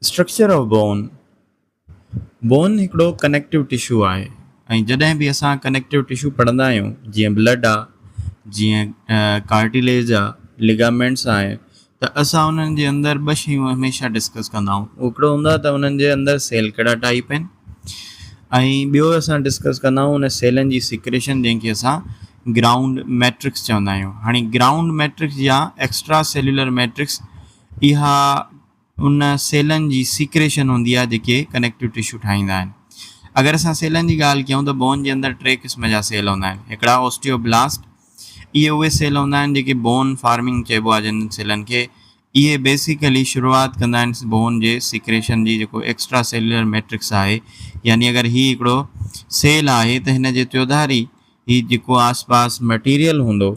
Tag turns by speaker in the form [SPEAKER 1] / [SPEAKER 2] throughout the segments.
[SPEAKER 1] Structure of Bone، bone هڪڙو connective tissue آهي ۽ جڏهن به اسان ڪنيڪٽو ٽشو پڙهندا آهيون جيئن بلڊ آهي، جيئن ڪارٽيليج آهي، ليگامينٽس آهي ته اسان انهن جي اندر ٻه شيون هميشه ڊسڪس ڪندا آهيون اهو هڪڙو هوندو آهي ته انهن جي اندر سيل ڪهڙا ٽائيپ آهن ۽ ٻيو اسان ڊسڪس ڪندا آهيون ان سيلن جي سيڪريشن جنهن کي اسان گرائونڊ ميٽرڪس چوندا آهيون هاڻي گرائونڊ ميٽرڪس يا ايڪسٽرا سيلولر ميٽرڪس اها ان سيلن جي سيڪريشن هوندي آهي جيڪي ڪنيڪٽو ٽشو ٺاهيندا آهن. اگر اسان سيلن جي ڳالهه ڪيون ته بون جي اندر ٽي قسم جا سيل هوندا آهن. هڪڙا اوسٽيو بلاسٽ، اهي اهي سيل هوندا آهن جيڪي بون فارمنگ چئبو آهي جنهن سيلن کي، اهي بيسيڪلي شروعات ڪندا آهن بون جي سيڪريشن جي جيڪو ايڪسٽرا سيلولر ميٽرڪس آهي يعني اگر هي هڪڙو سيل آهي ته هن جي تيوڌاري هي جيڪو آس پاس مٽيريل هوندو،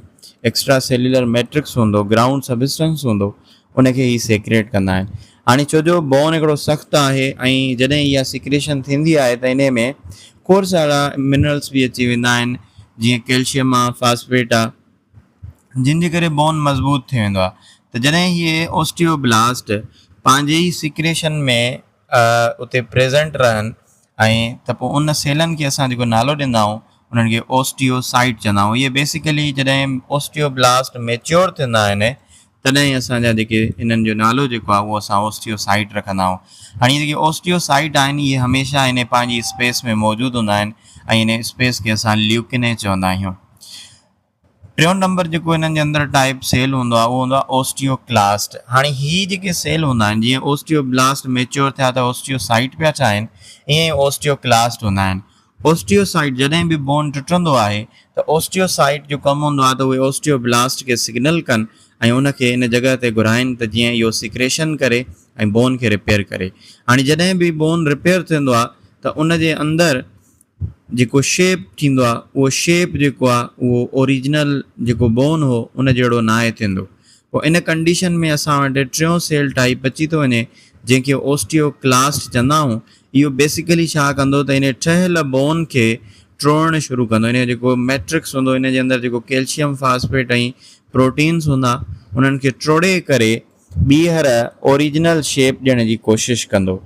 [SPEAKER 1] ايڪسٽرا سيليولر ميٽرڪس هوندو، گرائونڊ سبسٽنس هوندو، ان کي هي سيڪريٽ ڪندا آهن. هاڻي ڇو جو بون هڪڙو سخت آهي ۽ جڏهن اها سيڪريشن ٿيندي آهي ته انهي ۾ کوڙ سارا منرلس به اچي ويندا آهن جيئن ڪيلشيم آهي، فاسفيٽ آهي جن جي ڪري بون مضبوط ٿي ويندو آهي ته جڏهن هي اوسٽيوبلاسٽ پنهنجي ئي سيڪريشن ۾ اتي پريزنٽ رهن ائين ته پوء ان سيلن کي اسان جيڪو نالو ڏيندا آهيون انهن کي Osteocyte چوندا آهيون. اهي بيسيڪلي جڏهن Osteoblast ميچيور ٿيندا آهن تڏهن ئي اسان جا جيڪي انهن جو نالو جيڪو آهي اهو اسان Osteocyte رکندا آهيون. هاڻي اهي جيڪي Osteocyte آهن اهي هميشه انهي پنهنجي اسپيس ۾ موجود هوندا آهن ۽ انهي اسپيس کي اسان Leucinae چوندا آهيون. ٽيون نمبر جيڪو انهن جي اندر ٽائيپ سيل هوندو آهي اهو هوندو آهي اوسٽيوڪلاسٽ. هاڻي هي جيڪي سيل هوندا آهن جيئن اوسٽيوبلاسٽ ميچيور ٿيا ته اوسٽيوسائيٽ پيا ٺاهين ائين ئي اوسٽيوڪلاسٽ هوندا آهن. اوسٽيوسائيٽ جڏهن به بون ٽٽندو آهي ته اوسٽيوسائيٽ جو ڪم هوندو آهي ته اهي اوسٽيوبلاسٽ کي سگنل ڪن ۽ ان کي ان جڳهه تي گهرائين ته جيئن اهو سيڪريشن ڪري ۽ بون کي ريپيئر ڪري. هاڻي جڏهن به بون ريپيئر ٿيندو آهي ته ان جي اندر جيڪو شيپ ٿيندو آ اهو شيپ جيڪو آ اهو اوريجنل جيڪو بون هو ان جهڙو ناهي ٿيندو پوء ان ڪنڊيشن ۾ اسان وٽ ٽيون سيل ٽائيپ اچي ٿو وڃي جنهن کي اوسٽيو ڪلاسٽ چوندا آهون اهو بيسيڪلي ڇا ڪندو ته انهي ٺهيل بون کي ٽوڙڻ شروع ڪندو انهي جو جيڪو ميٽرڪس هوندو ان جي اندر جيڪو ڪيلشيم فاسفيٽ ۽ پروٽينز هوندا انهن کي ٽوڙي ڪري ٻيهر اوريجنل شيپ ڏيڻ جي ڪوشش ڪندو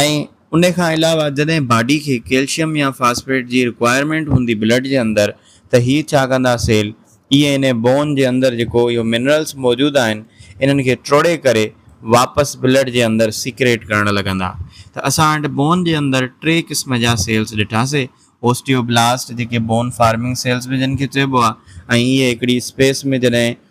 [SPEAKER 1] ۽ ان کان علاوه جڏهن باڊي کي ڪيلشيم يا فاسفيٽ جي رڪوائرمينٽ هوندي بلڊ جي اندر ته هي ڇا ڪندا سيل اي اين اي بون جي اندر جيڪو اهو منرلس موجود آهن انهن کي ٽروڙي ڪري واپس بلڊ جي اندر سيڪريٽ ڪرڻ لڳندا ته اسان وٽ بون جي اندر ٽي قسم جا سيلس ڏٺاسي اوسٽيو بلاسٽ جيڪي بون فارمنگ سيلس به جن کي چئبو آهي ۽ اهي هڪڙي اسپيس ۾ جڏهن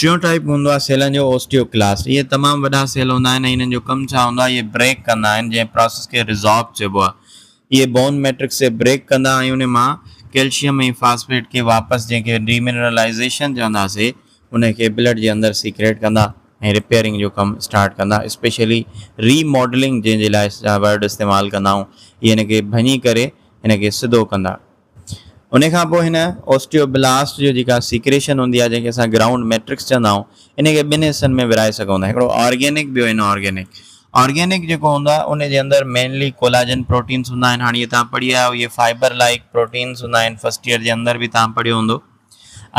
[SPEAKER 1] ٽيون ٽائيپ هوندو آهي سيلن جو اوسٽيوڪلاسٽ. اهي تمام وڏا سيل هوندا آهن ۽ انهن جو ڪم ڇا هوندو آهي؟ اهي بريڪ ڪندا آهن جنهن پراسيس کي ريزارب چئبو آهي. اهي بون ميٽرڪس کي بريڪ ڪندا ۽ ان مان ڪيلشيم ۽ فاسفيٽ کي واپس جنهن کي ڊي منرلائيزيشن چونداسي ان کي بلڊ جي اندر سيڪريٽ ڪندا ۽ رپيئرنگ جو ڪم اسٽارٽ ڪندا اسپيشلي ري ماڊلنگ جنهن جي لاء اسين جا ورڊ استعمال ڪندا آهيون اهي ان کي ڀڃي ڪري ان کي سڌو ڪندا انهي کان پوء هن اوسٽيوبلاسٽ جو جيڪا سيڪريشن هوندي آهي جنهن کي اسان گرائونڊ ميٽرڪس چوندا آهيون انهي کي ٻن حصن ۾ ورهائي سگهون ٿا هڪڙو آرگينڪ ٻيو ان آرگينڪ. آرگينڪ جيڪو هوندو آهي انهي جي اندر مينلي ڪولاجن پروٽينس هوندا آهن هاڻي اهي توهان پڙهي آيا آهيو اهي فائبر لائيڪ پروٽينس هوندا آهن فرسٽ ايئر جي اندر به توهان پڙهيو هوندو.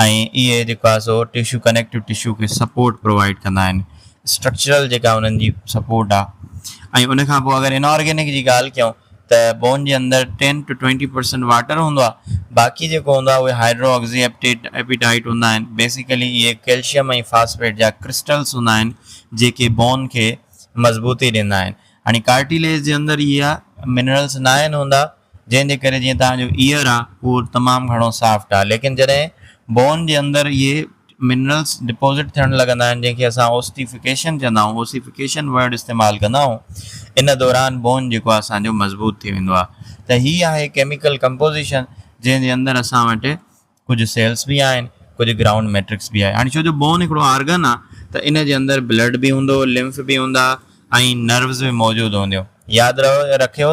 [SPEAKER 1] ۽ اهي جيڪو آهي سو ٽشو ڪنيڪٽو ٽشو کي سپورٽ پرووائيڊ ڪندا آهن اسٽرڪچرل جيڪا انهن جي سپورٽ آهي ۽ ان کان پوء اگر انارگينڪ جي ڳالهه ڪيون ته بون جي اندر ten to twenty percent water هوندو آهي باقي جيڪو هوندو آهي اهي هائيڊرو آڪسي ايپيٽائيٽ هوندا آهن بيسيڪلي اهي ڪيلشم ۽ فاسفيٽ جا ڪرسٽلس هوندا آهن جيڪي بون کي مضبوطي ڏيندا آهن هاڻي ڪارٽيليج جي اندر اهي منرلس ناهن هوندا جنهن جي ڪري جيئن توهان جو ايئر آ اهو تمام گهڻو سافٽ آ ليڪن جڏهن بون جي اندر اهي منرلس ڊپوزٽ ٿيڻ لڳندا آهن جنهن کي اسان اوسٽيفڪيشن چوندا آهون اوسيفڪيشن ورڊ استعمال ڪندا آهون ان دوران بون جيڪو آ اسان جو مضبوط ٿي ويندو آ ته هي آهي ڪيميڪل ڪمپوزيشن جنهن جي اندر اسان وٽ ڪجهه سيلس به آهن ڪجهه گرائونڊ ميٽرڪس به آهي هاڻي ڇو جو بون هڪڙو آرگن آ ته ان جي اندر بلڊ به هوندو لمف به هوندا ۽ نروز به موجود هونديون ياد رکيو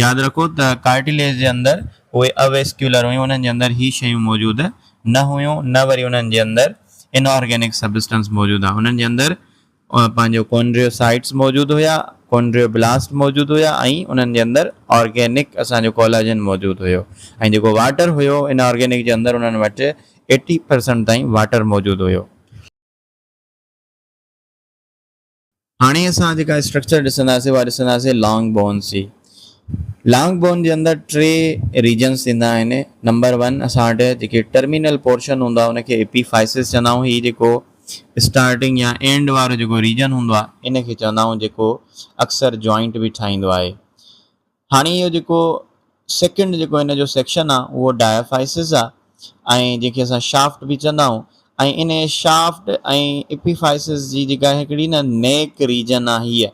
[SPEAKER 1] ياد رکو ته ڪارٽيليج جي اندر اهي اويسڪيولر هيون انهن جي اندر هي شيون موجود نه هيون نه وري انهن جي اندر انارگينڪ سبسٽنس موجود آ انهن جي اندر مان پنهنجو ڪونڊريو سائيٽس موجود هيا، ڪونڊريو بلاسٽ موجود هيا ۽ انهن جي اندر آرگينڪ اسان جو ڪولاجن موجود هيو ۽ جيڪو واٽر هيو ان آرگينڪ جي اندر انهن وٽ ايٽي پرسنٽ تائين واٽر موجود هيو. هاڻي اسان جيڪا اسٽرڪچر ڏسنداسين اها ڏسنداسين لانگ بونز جي. لانگ بون جي اندر ٽي ريجنس ٿيندا آهن. نمبر ون اسان وٽ جيڪي ٽرمينل پورشن هوندا ان کي ايپي فائسز چوندا آهيون هي جيڪو اسٽارٽنگ يا اينڊ وارو جيڪو ريجن هوندو آهي ان کي چوندا آهيون جيڪو اڪثر جوائنٽ به ٺاهيندو آهي. هاڻي اهو جيڪو سيڪنڊ جيڪو هن جو سيڪشن آهي اهو ڊائفائسز آهي ۽ جنهن کي اسان شافٽ به چوندا آهيون ۽ انهي شافٽ ۽ اپيفائسز جي جيڪا هڪڙي نه نيڪ ريجن آهي هيء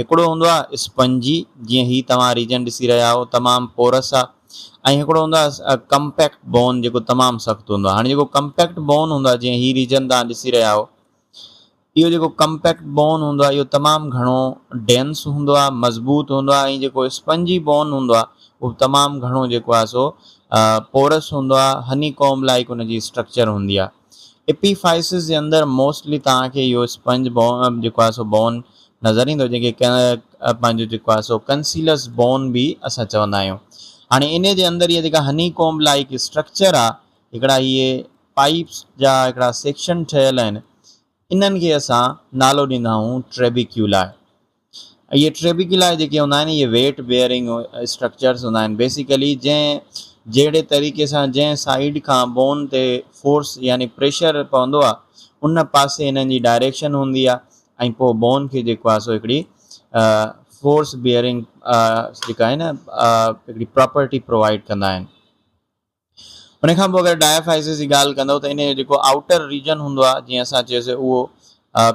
[SPEAKER 1] هڪڙو هوندو آهي اسپنجي، جيئن هي توهان ريجن ڏسي رهيا آهو، تمام پورس آهي ۽ هڪڙو هوندو آهي ڪمپيڪٽ بون جيڪو تمام سخت هوندو آهي. هاڻي جيڪو ڪمپيڪٽ بون هوندو آهي جيئن هي ريجن توهان ڏسي رهيا آهو، اهو جيڪو ڪمپيڪٽ بون هوندو آهي اهو تمام گهڻو ڊينس هوندو آهي، مضبوط هوندو آهي ۽ جيڪو اسپنجي بون هوندو آهي اهو تمام گهڻو جيڪو آهي سو پورس هوندو آهي، هني ڪوم لائيڪ ان جي اسٽرڪچر هوندي آهي. ايپيفائسس جي اندر موسٽلي توهان کي اهو اسپنج بون جيڪو آهي سو بون نظر ايندو جنهن کي پنهنجو جيڪو آهي سو ڪنسيلس بون به اسان چوندا آهيون هاڻي ان جي اندر اها جيڪا هني ڪومب لائيڪ اسٽرڪچر آهي هڪڙا اهي پائپس جا هڪڙا سيڪشن ٺهيل آهن انهن کي اسان نالو ڏيندا آهيون ٽريبيڪيولا اهي ٽي به قلعا جيڪي هوندا آهن اهي ويٽ بيئرنگ اسٽرڪچرس هوندا آهن بيسيڪلي جنهن جهڙي طريقي سان جنهن سائيڊ کان بون تي فورس يعني پريشر پوندو آهي ان پاسي انهن جي ڊائريڪشن هوندي آهي ۽ پوء بون کي جيڪو آهي سو هڪڙي فورس بيئرنگ جيڪا آهي نه هڪڙي پراپرٽي پرووائڊ ڪندا آهن ان کان پوء اگر ڊائفائيسز جي ڳالهه ڪندئو ته انهي جو جيڪو آئوٽر ريجن هوندو آهي جيئن اسان چيوسي اهو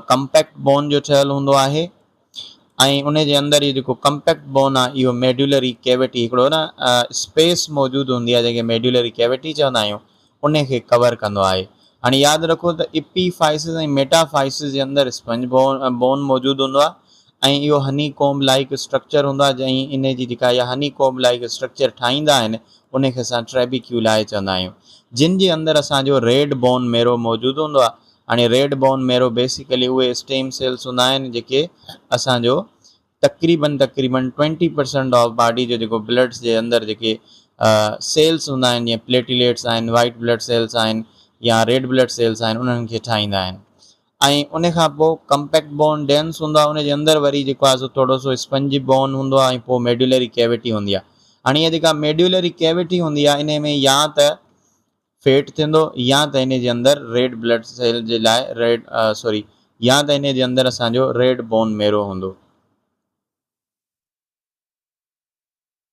[SPEAKER 1] ڪمپيڪٽ بون جو ٺهيل هوندو آهي ۽ انهي جي اندر اهي جيڪو ڪمپيڪٽ بون آهي اهو ميڊيولري ڪيوٽي هڪڙو نه اسپيس موجود هوندي آهي جنهن کي ميڊيولري ڪيوٽي چوندا آهيون انهي کي ڪور ڪندو آهي هاڻي ياد رکو ته اپي فائيسز ۽ ميٽا فائيسز جي اندر اسپنج بون بون موجود هوندو آهي ۽ اهو هني ڪومب لائيڪ اسٽرڪچر هوندو آهي ۽ انهي جي جيڪا اها هني ڪومب لائيڪ اسٽرڪچر ٺاهيندا آهن انهي کي اسان ٽريبيڪيولائي چوندا آهيون جن جي اندر اسان جو ريڊ بون ميرو موجود هوندو آهي هاڻي ريڊ بون ميرو بيسيڪلي اهي اسٽيم سيلس هوندا آهن جيڪي اسان جو تقريبن تقريبن ٽوئنٽي پرسنٽ آف باڊي جو جيڪو بلڊس جي اندر جيڪي سيلس هوندا آهن جيئن پليٽيليٽس آهن وائيٽ بلڊ سيلس آهن يا ريڊ بلڊ سيلس آهن انهن کي ٺاهيندا آهن ۽ ان کان پوء ڪمپيڪٽ بون ڊينس هوندو آهي ان جي اندر وري جيڪو آهي سو ٿورو سو اسپنجي بون هوندو آهي ۽ پوء ميڊيولري ڪيوٽي هوندي آهي هاڻي هيء جيڪا ميڊيولري ڪيوٽي هوندي آهي انهي ۾ يا ته فيٽ ٿيندو يا ته انهي جي اندر ريڊ بلڊ سيل جي لاء ريڊ سوري يا ته انهي جي اندر اسان جو ريڊ بون ميرو هوندو.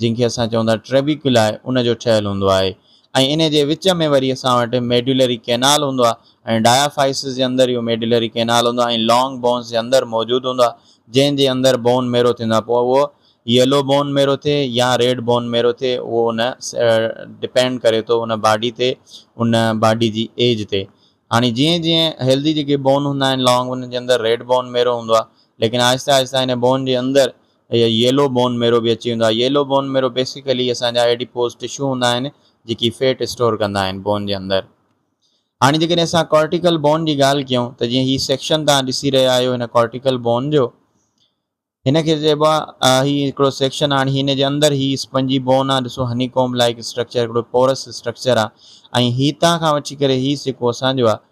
[SPEAKER 1] جنهن کي اسان چئون ٿا Trabeculae ان جو ٺهيل هوندو آهي ۽ انهي جي وچ ۾ وري اسان وٽ Medullary Canal هوندو آهي ۽ Diaphysis جي اندر اهو Medullary Canal هوندو آهي ۽ Long Bones جي اندر موجود هوندو آهي جنهن جي اندر Bone Marrow ٿيندو آهي پوء اهو Yellow Bone Marrow ٿئي يا Red Bone Marrow ٿئي اهو ان Depend ڪري ٿو ان باڊي تي ان باڊي جي ايج تي هاڻي جيئن جيئن Healthy جيڪي Bone هوندا آهن Long انهن جي اندر Red Bone Marrow هوندو آهي ليڪن آهستي آهستي انهي Bone جي اندر اهي ييلو بون ميرو به اچي ويندو آهي. ييلو بون ميرو بيسيڪلي اسان جا ايڊيپوز ٽشو هوندا آهن جيڪي فيٽ اسٽور ڪندا آهن بون جي اندر. هاڻي جيڪڏهن اسان ڪارٽيڪل بون جي ڳالهه ڪيون ته جيئن هي سيڪشن توهان ڏسي رهيا آهيو هن ڪارٽيڪل بون جو هن کي چئبو آهي هي هڪڙو سيڪشن هاڻي هن جي اندر هي اسپنجي بون آهي ڏسو هني ڪومب لائيڪ اسٽرڪچر هڪڙو پورس اسٽرڪچر آهي ۽ هيتان کان وٺي ڪري هي سڪو اسان جو آهي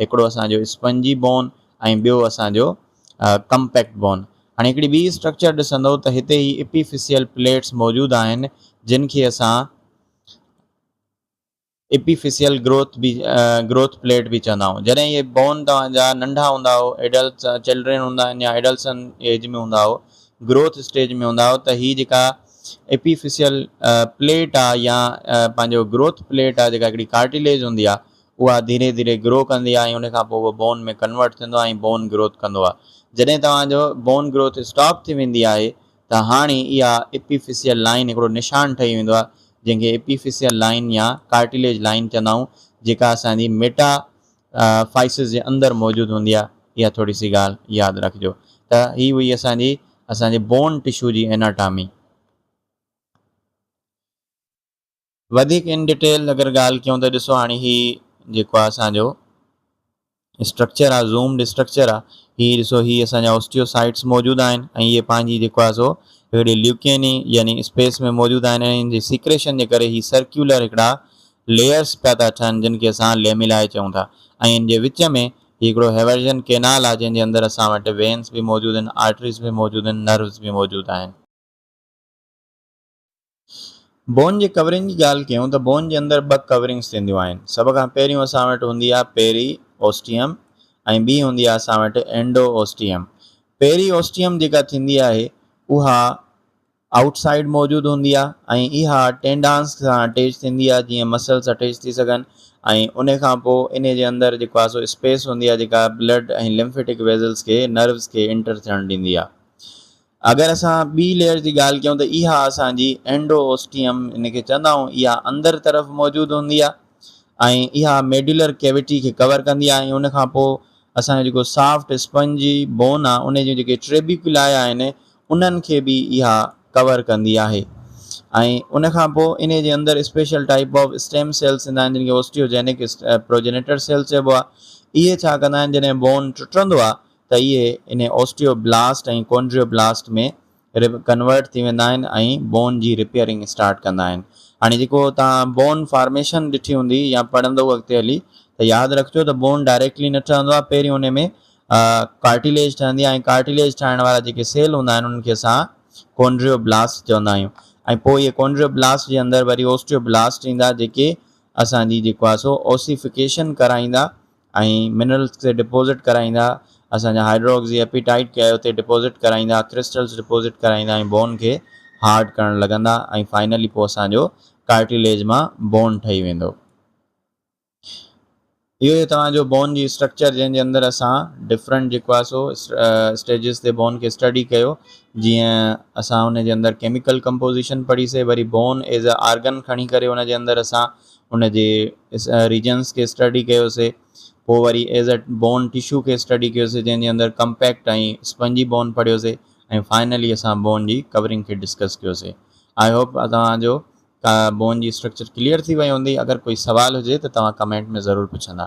[SPEAKER 1] هڪڙو اسان جو اسپنجي بون ۽ ٻيو اسان جو ڪمپيڪٽ بون. هاڻي هڪڙي ٻي اسٽرڪچر ڏسندو ته هتي هي اپيفيسيل پليٽس موجود آهن جن کي اسان اپيفيسيل گروٿ به گروٿ پليٽ به چوندا آهيون. جڏهن اهي بون توهان جا ننڍا هوندا آهو ايڊلٽس چلڊرين هوندا آهن يا ايڊلسن ايج ۾ هوندا آهو گروٿ اسٽيج ۾ هوندا آهو ته هي جيڪا اپيفيسيل پليٽ آهي يا پنهنجو گروٿ پليٽ آهي جيڪا هڪڙي ڪارٽيليج هوندي آهي اها ڌيري ڌيري گرو ڪندي آهي ۽ ان کان پوء اهو بون ۾ ڪنورٽ ٿيندو آهي ۽ بون گروٿ ڪندو آهي. جڏهن توهان جو بون گروٿ اسٽاپ ٿي ويندي آهي ته هاڻي اها ايپيفيسيل لائين هڪڙو نشان ٺهي ويندو آهي جنهن کي ايپيفيسيل لائين يا ڪارٽيليج لائين چوندا آهيون جيڪا اسان جي ميٽا فائسز جي اندر موجود هوندي آهي اها ٿوري سي ڳالهه ياد رکجو ته هي هئي اسان جي اسان جي بون ٽشو جي ايناٽامي. وڌيڪ ان ڊٽيل اگر ڳالهه ڪيون ته ڏسو هاڻي هي جيڪو آهي اسان جو اسٽرڪچر آهي زومڊ اسٽرڪچر آهي هي ڏسو هي اسان جا اوسٽيو سائيٽس موجود آهن ۽ هي پنهنجي جيڪو آهي سو هڪڙي ليوڪيني يعني اسپيس ۾ موجود آهن ۽ ان جي سيڪريشن جي ڪري هي سرڪيولر هڪڙا ليئرس پيا ٿا ٺهن جن کي اسان ليميلائي چئون ٿا ۽ ان جي وچ ۾ هي هڪڙو هيورجن ڪينال آهي جنهن جي اندر اسان وٽ وينس به موجود آهن آرٽريز به موجود آهن نروز به موجود آهن. بون جي ڪورنگ جي ڳالهه ڪيون ته بون جي اندر ٻه ڪورنگز ٿينديون آهن. سڀ کان پهريون اسان وٽ هوندي آهي پيري اوسٽيم ۽ ٻي هوندي آهي اسان وٽ اينڊو اوسٽيم. پيري اوسٽيم جيڪا ٿيندي آهي اها آئوٽ سائيڊ موجود هوندي آهي ۽ اها ٽينڊانس سان اٽيچ ٿيندي آهي جيئن مسلس اٽيچ ٿي سگهن ۽ انهي کان پوء انهي جي اندر جيڪو آهي سو اسپيس هوندي آهي جيڪا بلڊ ۽ لمفيٽڪ ويزلز کي نروز کي انٽر ٿيڻ ڏيندي آهي. اگر اسان ٻي ليئر جي ڳالهه ڪيون ته اها اسان جي اينڊو اوسٽيم ان کي چوندا آهيون اها اندر طرف موجود هوندي آهي ۽ اها ميڊولر ڪيوٽي کي ڪور ڪندي آهي ۽ ان کان پوء اسان جو جيڪو سافٽ اسپنجي بون آهي ان جون جيڪي ٽريبيڪولائي آهن انهن کي به اها ڪور ڪندي آهي ۽ ان کان پوء ان جي اندر special type of stem cells ٿيندا آهن جن کي اوسٽيوجينڪ پروجينيٽر سيلس چئبو آهي اهي ڇا ڪندا آهن جڏهن بون ٽٽندو آهي ته اهي انهي osteoblast ۽ chondroblast ۾ convert ٿي ويندا آهن ۽ بون جي رپيئرنگ اسٽارٽ ڪندا آهن. هاڻي جيڪو توهان بون فارميشن ڏٺي هوندي يا پڙهندؤ اڳتي هلي ته ياد رکجو ته بون ڊائريڪٽلي نه ٺهندو آهي پهريون انهي ۾ ڪارٽيليج ٺهندي آهي ۽ ڪارٽيليج ٺاهڻ وارا جيڪي سيل هوندا آهن انهن کي اسان ڪونڊريو بلاسٽ چوندا آهيون ۽ پوء اهي ڪونڊريو بلاسٽ جي اندر وري اوسٽيو بلاسٽ ايندا جيڪي اسان جي جيڪو آهي سو اوسيفڪيشن ڪرائيندا ۽ منرلز تي ڊپوزٽ ڪرائيندا، اسان جا هائيڊرو آڪسي ايپيٽائيٽ کي اتي ڊپوزٽ ڪرائيندا، ڪرسٽلز ڊپوزٽ ڪرائيندا ۽ بون کي هارڊ ڪرڻ لڳندا ۽ فائنلي پوء اسان جو ڪارٽيليج مان بون ٺهي ويندو. اهو هي توهان جو بون جي اسٽرڪچر جنهن جي اندر اسان ڊفرنٽ جيڪو آهي سو اسٽيجز تي بون کي اسٽڊي ڪيو جيئن اسان ان جي اندر ڪيميڪل ڪمپوزيشن پڙهي سي وري بون ايز اي آرگن کڻي ڪري ان جي اندر اسان ان جي ريجنس کي اسٽڊي ڪيوسي پوء وري ايز اٽ بون ٽشو کي اسٽڊي ڪيوسي جنهن جي اندر ڪمپيڪٽ ۽ اسپنجي بون پڙهيوسي ۽ فائنلي اسان بون جي ڪورنگ کي ڊسڪس ڪيوسي آئي هوپ توهان جو بون جي اسٽرڪچر ڪليئر ٿي وئي هوندي اگر ڪوئي سوال هجي ته توهان ڪمينٽ ۾ ضرور پڇندا.